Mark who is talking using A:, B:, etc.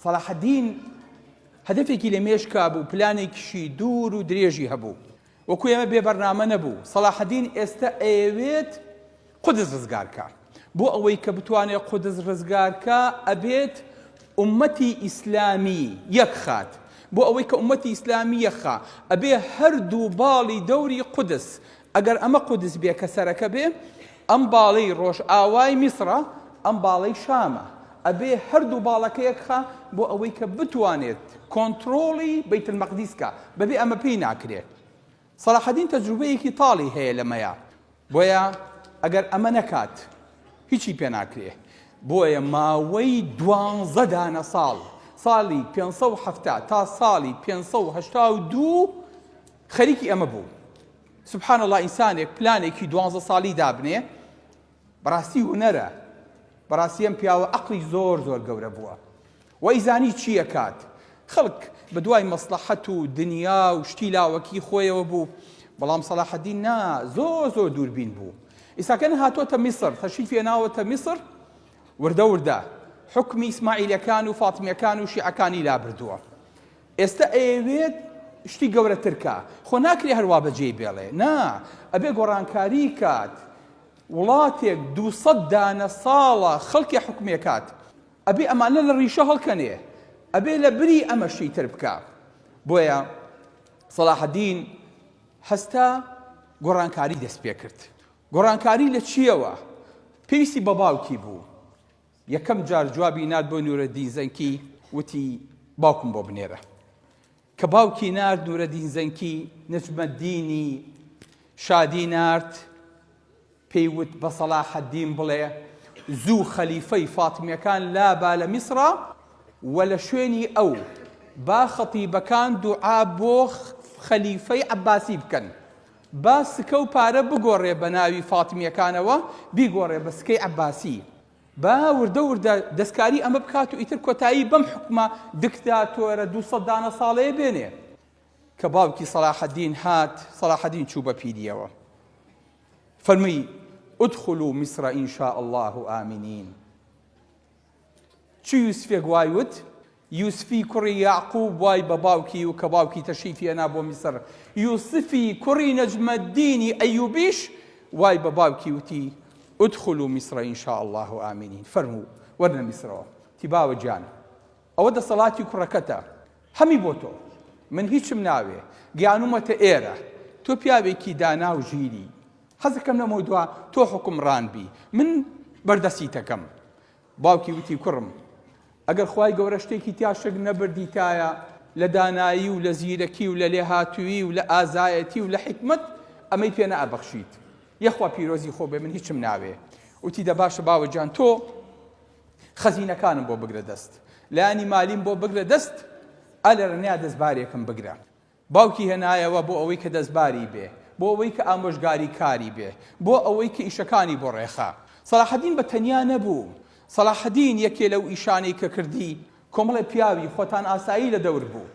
A: سەڵاحەدین هەدەفێکی لە مێشکا بوو، پلانێکیشی دوور و درێژی هەبوو. وەکو ئێمە بێ بەرنامە نەبوو. سەڵاحەدین ئێستا ئەیەوێت قودس ڕزگار کا. بۆ ئەوەی کە بتوانێت قودس ڕزگار کا، ئەبێت ئوممەتی ئیسلامی یەک خات. بۆ ئەوەی کە ئوممەتی ئیسلامی یەک خا، ئەبێ هەردوو باڵی دەوری قودس ئەگەر ئەمە قودس بێ کە سەرەکە بێ ئەم باڵی ڕۆژئاوای میسڕە ئەم باڵەی شامە ئەبێ هەردوو باڵەکە یەک خا بۆ ئەوەی کە بتوانێت کۆنترۆڵی بەیت المەقدیس کا بەبێ ئەمە پێی ناکرێت سەلاحەدین تەجروبەیەکی تاڵی هەیە لەمەیە بۆیە ئەگەر ئەمە نەکات هیچی پێ ناکرێ بۆیە ماوەی دوانزە دانە ساڵ ساڵی 570 تا ساڵی 582 خەریکی ئەمە بوو. سبحان اللە ئینسانێک پلانێکی دوانزە ساڵی دابنێ بەڕاستی هونەرە بەڕاستی ئەم پیاوە ئەقڵی زۆر زۆر گەورە بووە وای زانی چییە کات خەڵک بە دوای مەسلحەت و دنیا و شتی لاوەکی خۆیەوە بوو بەڵام سەلاحەدین نا زۆر زۆر دووربین بوو ئیساکەن هاتۆتە میسر تەشی پێناوەتە میسر وردە وردە حکمی ئیسماعیلەکان و فاتمیەکان و شیعەکانی لابردووە ئێستا ئەیەوێت شتی گەورەتر کا خۆ ناکرێ هەر وا بەجێی بێڵێ نا ئەبێ گۆڕانکاری کات وڵاتێک دو سەد دانە ساڵە خەڵکێ حکومێ کات ئەبێ ئەمانە لە ڕیشە هەڵکەنێ ئەبێ لە بری ئەمە شتی تر بکا بۆیە سەڵاحەدین هەستا گۆڕانکاری دەست پێ کرد گۆڕانکاری لە چیەوە پێویستی بە باوکی بوو یەکەم جار جوابی نارد بۆ نورەدین زەنکی وتی باوکم بۆ بنێرە کە باوکی نارد نورەدین زەنکی نەجمەدینی شادی نارد پێی وت بە سەڵاحەدین بڵێ زوو خەلیفەی فاتمیەکان لا با لە میسرا و لە شوێنی ئەو با خەتیبەکان دوعا بۆ خەلیفەی عەباسی بکەن با سکە و پارە بگۆڕێ بە ناوی فاتمیەکانەوە بیگۆڕێ بە سکەی عەباسی با وردە وردە دەستکاری ئەمە بکات و ئیتر کۆتایی بەم حکومە دکتاتۆرە دوو سەد دانە ساڵەیە بێنێ کە باوکی سەلاحەدین هات سەلاحەدین چوو بە پیریەوە فەرمی ادخلوا مصر ان شاء الله آمنین چ یوسفێک وای وت؟ یوسفی کوڕی یەعقوب وای بە باوکی و کە باوکی تەشریفی هێنا بۆ میسر یوسفی کوڕی نەجمەدینی ئەیوبیش وای بە باوکی وتی ادخلوا مصر ان شاء الله آمنین فەرموو وەرنە میسرەوە تی باوە گیان ئەوە دەسەڵاتی کوڕەکەتە هەمی بۆ تۆ من هیچم ناوێ گیانومەتە ئێرە تۆ پیاوێکی دانا و ژیری حەزەکەم لەمەو دوا تۆ حکومڕان بی من بەردەسیتەکەم باوکی وتی کوڕم ئەگەر خی گەورە شتێکی تیاشک نەبردیتایە لە دانایی و لە زیرەکی و لە لێهاتووی و لە ئازایەتی و لە حکمت ئەمەی پێ نەئەبەخشیت یەخوا پیرۆزی خۆ بێ من هیچم ناوێ وتی دە باشە باوەجان تۆ خەزینەکانم بۆ بگرە دەست لایانی مالیم بۆ بگرە دەست ئەلەرنیا دەستبارێکم بگرە باوکی هێنایەوە بۆ ئەوەی کە دەستباری بێ، بۆ ئەوەی کە ئامۆژگاریکاری بێ، بۆ ئەوەی کە ئیشەکانی بۆ ڕێکخا. سەلاحەدین بە تەنیا نەبوو. سەلاحەدین یەکێ لەو ئیشانەی کە کردی، کۆمەڵێ پیاوی خۆتانئاسایی لە دەور بوو.